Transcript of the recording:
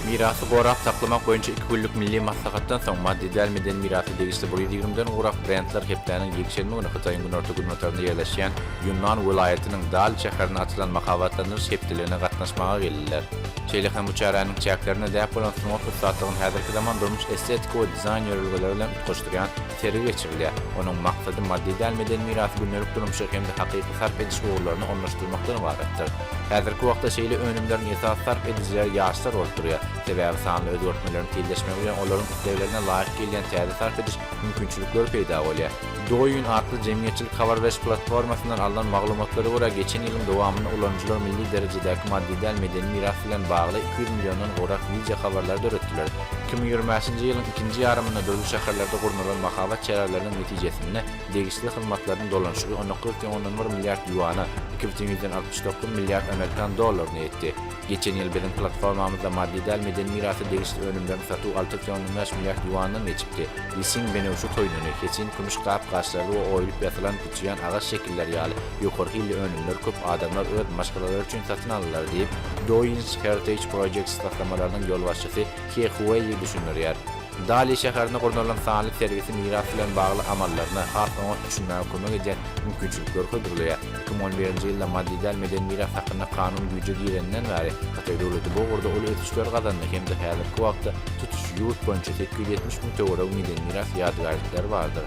Mirasy gorap saklamak boýunça iki günlük milli maslahatdan soň, maddy däl medeni mirasa degişli bir ýüz ýigrimi den gowrak brendler hepdäniň ýekşenbe güni Hytaýyň günorta-günbatarynda ýerleşýän Ýunnan welaýatynyň Dali şäherinde açylan mahabatlandyryş hepdeligine gatnaşmaga geldiler. Şeýle hem bu çäräniň çäklerinde däp bolan sungat ussatlygyny häzirki zaman durmuş-estetiki we dizaýn ýörelgeleri bilen utgaşdyrýan Sergi geçirilýär. Onuň maksady maddy däl medeni mirasy gündelik durmuşa hem-de hakyky sarp ediş ugurlaryna ornaşdyrmakdan ybaratdyr. Häzirki wagtda şeýle önümleriň esasy sarp edijileri ýaşlar bolup durýar. Sebäbi sanly özgertmeleriň tizleşmegi bilen olaryň isleglerine laýyk gelýän täze sarp ediş mümkinçilikleri peýda bolýar. Douyin atly jemgyýetçilik habar beriş platformasyndan alnan maglumatlara görä, geçen ýylyň dowamynda ulanyjylar milli derejedäki maddy däl medeni miras bilen bagly iki ýüz milliondan gowrak wideo habarlary döretdiler. Iki müň ýigrimäsinji ýylyň ikinji ýarymynda dürli şäherlerde gurnalan mahabat çäreleriniň netijesinde degişli hyzmatlaryň dolanyşygy on iki otyn ondan bir milliard ýuana, iki bütin ýüzden altmyş dokuz milliard amerikan dollaryna ýetdi. Geçen ýyl biziň platformamyzda maddy däl medeni mirasa degişli önümleriň satuwy alty otyn ondan bäş milliard ýuandan geçipdi. Lisin benewşe toýnuny, heçin kümüş gap-gaçlary we oýulyp ýasylan, Çiýan agaç şekilleri ýaly ýokary hilli önümler köp adamlar öz maşgalalary üçin satyn aldylar diýip, Douyin-s Heritage Projects taslamalarynyň ýolbaşçysy He Hueýi düşündirýär. Dali şäherinde gurnalan sanly sergisi miras bilen bagly amallaryna has oňat düşünmäge kömek edýän mümkinçilikleri hödürleýär. Iki müň on birinji ýylda maddy däl medeni miras hakynda kanun güýje gireninden bäri, Hytaý döwleti bu ugurda uly ösüşler gazandy hem-de häzirki wagtda tutuş ýurt boýunça sekiz ýüz ýetmiş müň töweregi medeni miras ýadygärlikleri bardyr.